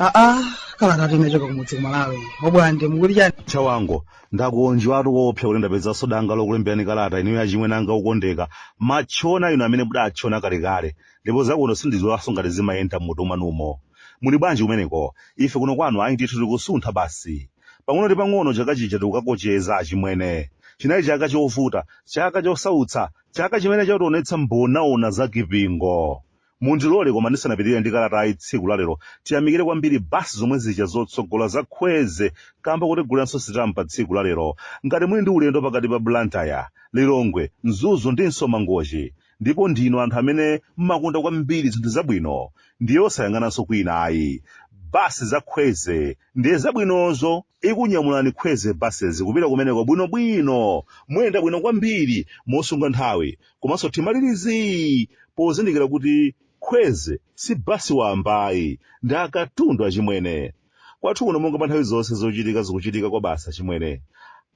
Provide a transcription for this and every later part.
aa kalata tinachoka kumudzi ku malawi obwande mukuti chani chawango ndakondwatu koopsa kuti ndapezanso danga lokulemberani kalata ineyo achimwene anga okondeka matchona inu amene mudatchona kalekale ndipo zakuno sindidziwanso ngati zimayenda m'mutu mwanumo muli bwanji kumeneko ife kuno kwanu ayi ndithu tikusuntha basi pang'ono ndi pang'ono chaka chija tikukakocheza achimwene chinali chaka chovuta chaka chosautsa chaka chimene chationetsa mbonaona za kipingo mundilole koma ndisanapitirire ndi kalatayi tsiku lalero tiyamikire kwambiri basi zomwe zija zotsogola za kwezy kamba kotiguliranso sitampa tsiku lalero ngati muli ndi ulendo pakati pa blantyre lilongwe mzuzu ndinso mangochi ndipo ndinu anthu amene mmakonda kwambiri zinthu zabwino ndiye osayang'ananso kwina ayi basi za kwezy ndiye zabwinozo ikunyamulani kwezy buses kupita kumeneko bwinobwino muyenda bwino kwambiri mosunga nthawi komanso mtima uli zii pozindikira kuti kwezy si basi wambayi ndi akatundu achimwene kwathu kuno monga pa nthawi zonse zochitika zikuchitika kwabasi achimwene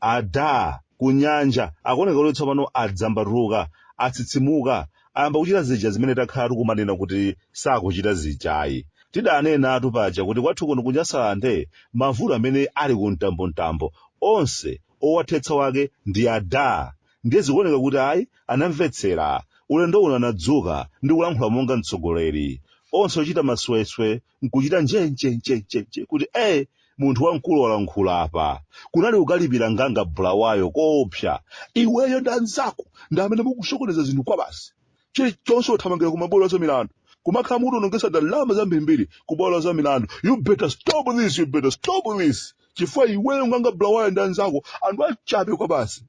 ada kunyanja akuoneka kuti tsopano adzambatuka atsitsimuka ayamba kuchita zija zimene takhala tikumanena kuti sakuchita zijayi tidanenatu paja kuti kwathu kuno kunyasalande mavuto amene ali ku mtambomtambo onse owathetsa wake ndi ada ndiye zikuoneka kuti ayi anamvetsera ulendo uno anadzuka ndi kulankhula monga mtsogoleri onse ochita masweswe nkuchita njenjenjenjenje kuti e munthu wamkulu walankhula apa kunali kukalipira nganga bulawayo koopsa iweyo ndi anzako ndi amene mukusokoneza zinthu kwabasi chilichonse kuthamangira ku mabwalo a za milandu kumakhala mukutionongetsa ndalama zambirimbiri ku bwalo la za milandu you better stop this you better stop this chifukwa iweyo nganga bulawayo ndi anzako anthu achabe kwabasi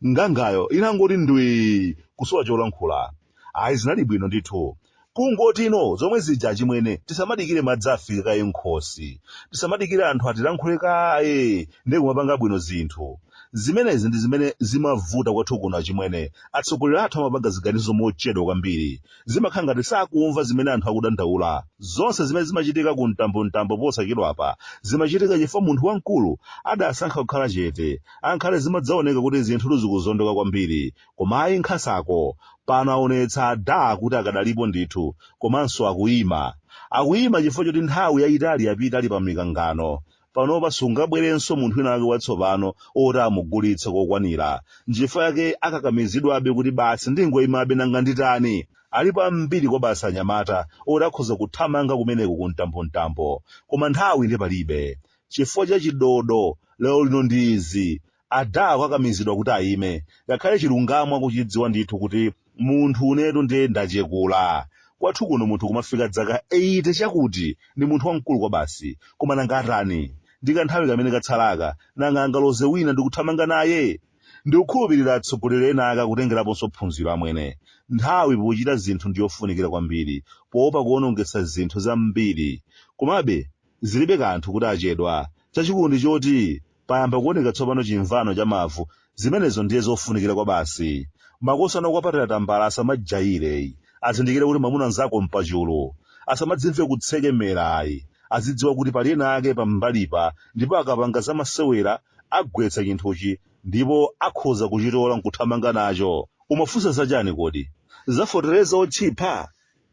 ngangayo inangoti ndwii kusowa cholankhula ayi zinali bwino ndithu kungoti ndi zomwe zija achimwene tisamadikire madzi afike kaye m'khosi tisamadikire anthu atilankhule kaye ndiye kumapanga bwino zinthu zimenezi ndi zimene zimavuta kwathu kuno achimwene atsogoleri athu amapanga ziganizo mochedwa kwambiri zimakhala ngati sakumva zimene anthu akudandaula. Zonse zimene zimachitika ku mtambomtambo posachedwapa zimachitika chifukwa munthu wamkulu adasankha kukhala chete. Angakhale zimadzaoneka kuti zinthutu zikuzondoka kwambiri. Koma ayi nkhasako. Pano aonetsa ada kuti akadalipo ndithu. Komanso akuima. Akuima chifukwa choti nthawi yayitali yapita ali pa mikangano. panopa sungabwerenso munthu wina wake watsopano oti amugulitse kokwanira nchifukwa yake akakamizidwabe kuti basi ndingoyimabe nanga nditani alipo ambiri kwabasi anyamata oti akhoza kuthamanga kumeneko ku mtambomtambo koma nthawi ndi palibe chifukwa cha chidodo lero lino ndi izi Ada akakamizidwa kuti ayime, ngakhale chilungamo akuchidziwa ndithu kuti munthu unetu ndiye ndachekura. Kwathu kuno munthu kumafika dzaka 80 chakuti, ndi munthu wamkulu kwabasi. Koma nanga atani? Ndi kanthawi kamene katsalaka, nanga angaloze wina ndi kuthamanga naye? Ndikukhulupirira atsogoleri ena ake akutengeraponso phunziro amwene. Nthawi pochita zinthu ndi yofunikira kwambiri, poopa kuwonongetsa zinthu zambiri. Komabe, zilibe kanthu kuti achedwa, chachikulu ndi choti Payamba kuoneka tsopano chimvano cha mavu, zimenezo ndiye zofunikira kwabasi. Makosana okupatira tambala asamajaire ayi, azindikire kuti mwamuna nzako mpachulu. Asamadzimve kutsekemera ayi, azidziwa kuti pali ena ake pambalipa ndipo akapanga za masewera agwetsa chinthuchi ndipo akhoza kuchitola nkuthamanga nacho. Umafunsa za chani kodi? Za fotereza otchipa?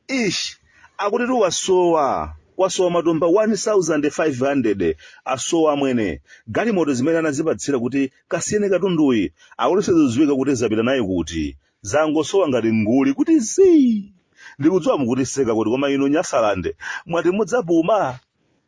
Eesh akutitu kwasowa kwasowa matumba 1500 asowa amwene galimoto zimene anazipatsira kuti kasiyeni katunduyi akuti sizidziwika kuti zapita naye kuti zangosowa ngati nguli kuti zii ndikudziwa mukutiseka kuti koma ino nyasaland mwati mudzapuma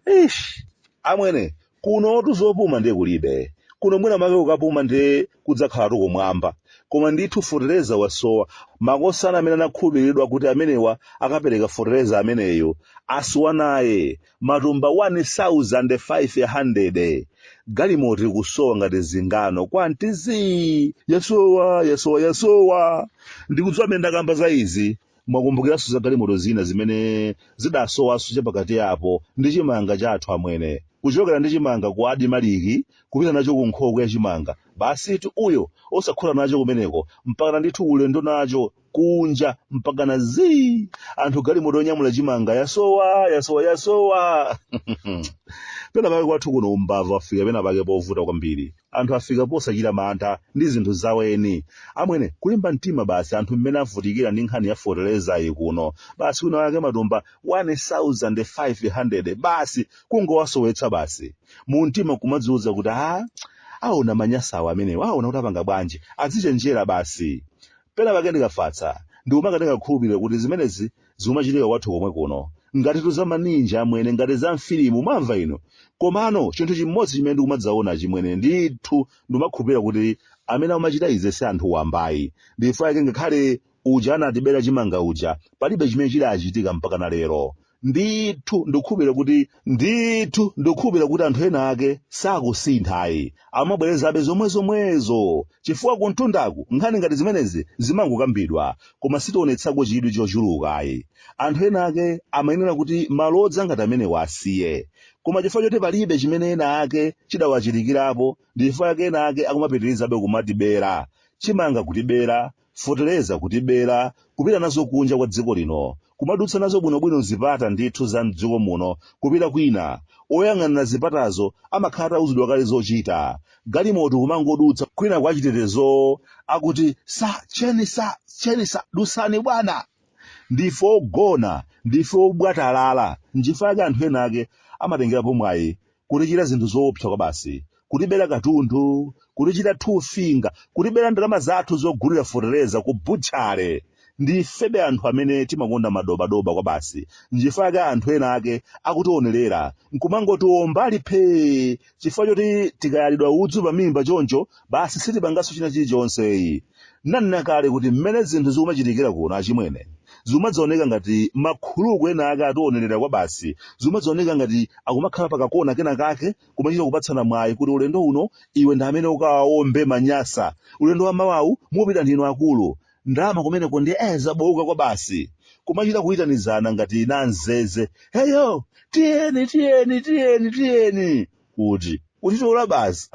Eesh amwene Kunotu zopuma ndiye kulibe. Kuno mwina make kukapuma ndiye kudzakhalatu kumwamba. Koma ndithu fotereza wasowa. Makosana amene anakhulupiriridwa kuti amenewa akapereka fotereza ameneyo asowa naye matumba 1,500. Galimoto kusowa ngati zingano kuti zii! Yasowa, yasowa, yasowa! Ndikudziwa mmene ndakamba za izi. mwakumbukiranso za galimoto zina zimene zidasowanso chapakati apo ndi chimanga chathu amwene kuchokera ndi chimanga ku adimaliki kupita nacho ku nkhokwe ya chimanga basitu uyo osakhuthula nacho kumeneko mpakana ndithu ulendo nacho kunja mpakana zii anthu galimoto yonyamula chimanga yasowa yasowa yasowa pena pake kwathu kuno umbava afika pena pake povuta kwambiri anthu afika posachita mantha ndi zinthu zaweni amwene kulimba mtima basi anthu mmene avutikira ndi nkhani ya fotelezayi kuno basi wina wake matumba 1500 basi kungowasowetsa basi mu mtima kumadziwuza kuti a aona anyasawa amenewa aona kuti apanga bwanji azichenjera basi pena pake ndikafatsa ndiku mwa kati ndingakhulupirire kuti zimenezi zikumachitika kwathu komwe kuno ngatitu za maninja amwene ngati za mfilimu mwamva inu komano chinthu chimodzi chimene ndikumadzaona chimwene ndithu ndimakhulupirira kuti amene amachita izi si anthu wamba ayi ndi chifukwa chake ngakhale uja anatibera chimanga uja palibe chimene chidachitika mpaka na lero ndithu ndithu ndikukhulupirira kuti anthu ena ake sakusintha ayi amabwerezabe zomwezomwezo chifukwa kumtundaku nkhani ngati zimenezi zimangokambidwa koma sitionetsako chidwi chochuluka ayi. Anthu ena ake amayenera kuti malodza ngati amenewa asiye. Koma chifukwa choti palibe chimene ena ake chidawachitikirapo ndi chifukwa chake ena ake akumapitirizabe kumatibera chimanga kutibera feteleza kutibera kupita nazo kunja kwa dziko lino kumadutsa nazo bwinobwino mzipata ndithu za mdziko muno kupita kwina oyang'anira zipatazo amakhala atauzidwa kale zochita galimoto kumangodutsa kwina kwa achitetezowo akuti sa cheni sa cheni sa dutsani bwana ndife ogona ndife obwatalala nchifukwa chake anthu ena ake amatengerapo mwayi kutichita zinthu zoopsa kwabasi, kutibera katundu, kutichita two finger, kutibera ndalama zathu zogulira fetereza ku butchale. Ndifebe anthu amene timakonda madobadoba kwabasi, nchifukwa chake anthu ena ake akutionerera nkumangotiomba ali phee chifukwa choti tikayalidwa udzu pamimba choncho basi sitipanganso china chilichonse. Ndanena kale kuti mmene zinthu zikumachitikira kuno achimwene, zikumadzaoneka ngati makhuluku ena ake ationerera kwabasi, zikumadzaoneka ngati akumakhala pakakona kena kake kumachita kupatsana mwayi kuti ulendo uno iwe ndi amene ukawaombe manyasa, ulendo wa mawawu mupita ndinu akulu. Ndalama kumeneko ndiye eh zobooka kwabasi. Kumachita kuitanizana ngati namzeze. Heyo! Tiyeni, tiyeni, tiyeni, tiyeni! kuti uchitola basi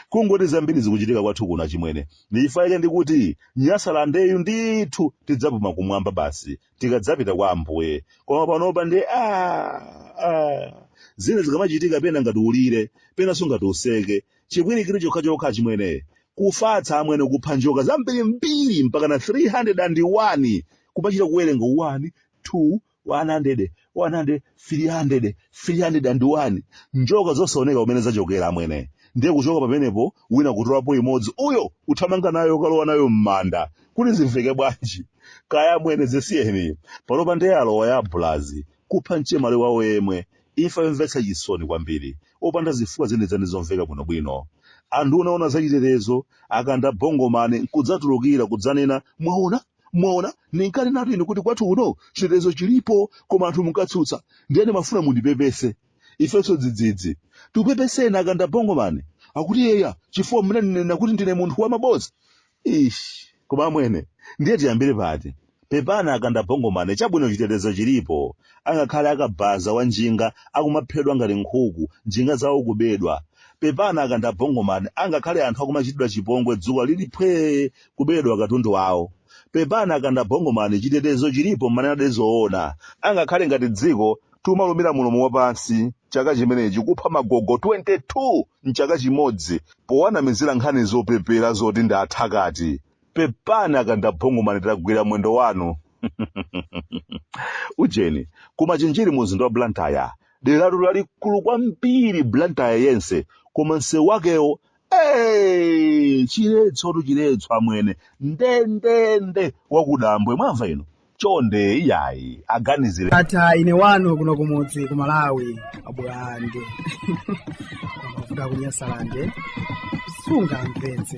kungoti zambiri zikuchitika kwathu kuno achimwene ndichifukwa chake ndikuti nyasalandeyu ndithu tidzapuma kumwamba basi tikadzapita kwa ambuye koma panopa ndiye ah, ah. zina zikamachitika pena ngati ulire penanso ngati useke chipwirikiti chokhachokha achimwene kufatsa amwene kupha njoka zambirimbiri mpaka na 301 kumachita kuwerenga 1 2 100 300 301 njoka zosaoneka kumene zachokera amwene ndiye kuchoka pamenepo wina kutolapo imodzi uyo uthamanga nayo ukalowa nayo m'manda kuti zimveke bwanji kaya amwene zisiyeni panopa ndiye alowa ya abulazi kupha mchemwali wawo yemwe imfa yomvetsa chisoni kwambiri opanda zifukwa zenizeni zomveka bwinobwino anthu unaona zachitetezo akanda bongo mmene nkudzatulukira kudzanena mwaona mwaona ndinkanenatu ine kuti kwathu kuno chitetezo chilipo koma anthu munkatsutsa ndiye ndimafuna mundipepese ifenso dzidzidzi tikupepeseni akanda bongomani akuti yeya chifukwa munanena kuti ndine munthu wa maboza ish koma amwene ndiye tiyambire pati pepani akanda bongomani chabwino chitetezo chilipo angakhale akabaza wa njinga akumaphedwa ngati nkhuku njinga zawo kubedwa pepani akanda bongomani angakhale anthu akumachitidwa chipongwe dzuwa lili phwee kuberedwa katundu wawo. Pepani akanda bongo man chitetezo chilipo mumanenadi zoona. Angakhale ngati dziko tikumalumira mulomo wapansi chaka chino chimenechi kupha magogo 22 mchaka chimodzi powanamizira nkhani zopepera zoti ndi athakati. Pepani akanda bongo man tagwira mwendo wanu. Ujeni, ku Machinjiri mu mzinda wa Blantyre, deratu lalikulu kwambiri Blantyre yense koma msewu wakewo Hey, chiletso tu chiletso amwene ndendende wakudambwe mwamva ino chonde iyayi aganizire atha ine wanu kuno kumudzi ku malawi abulande kuda kunyasalande sungamvetse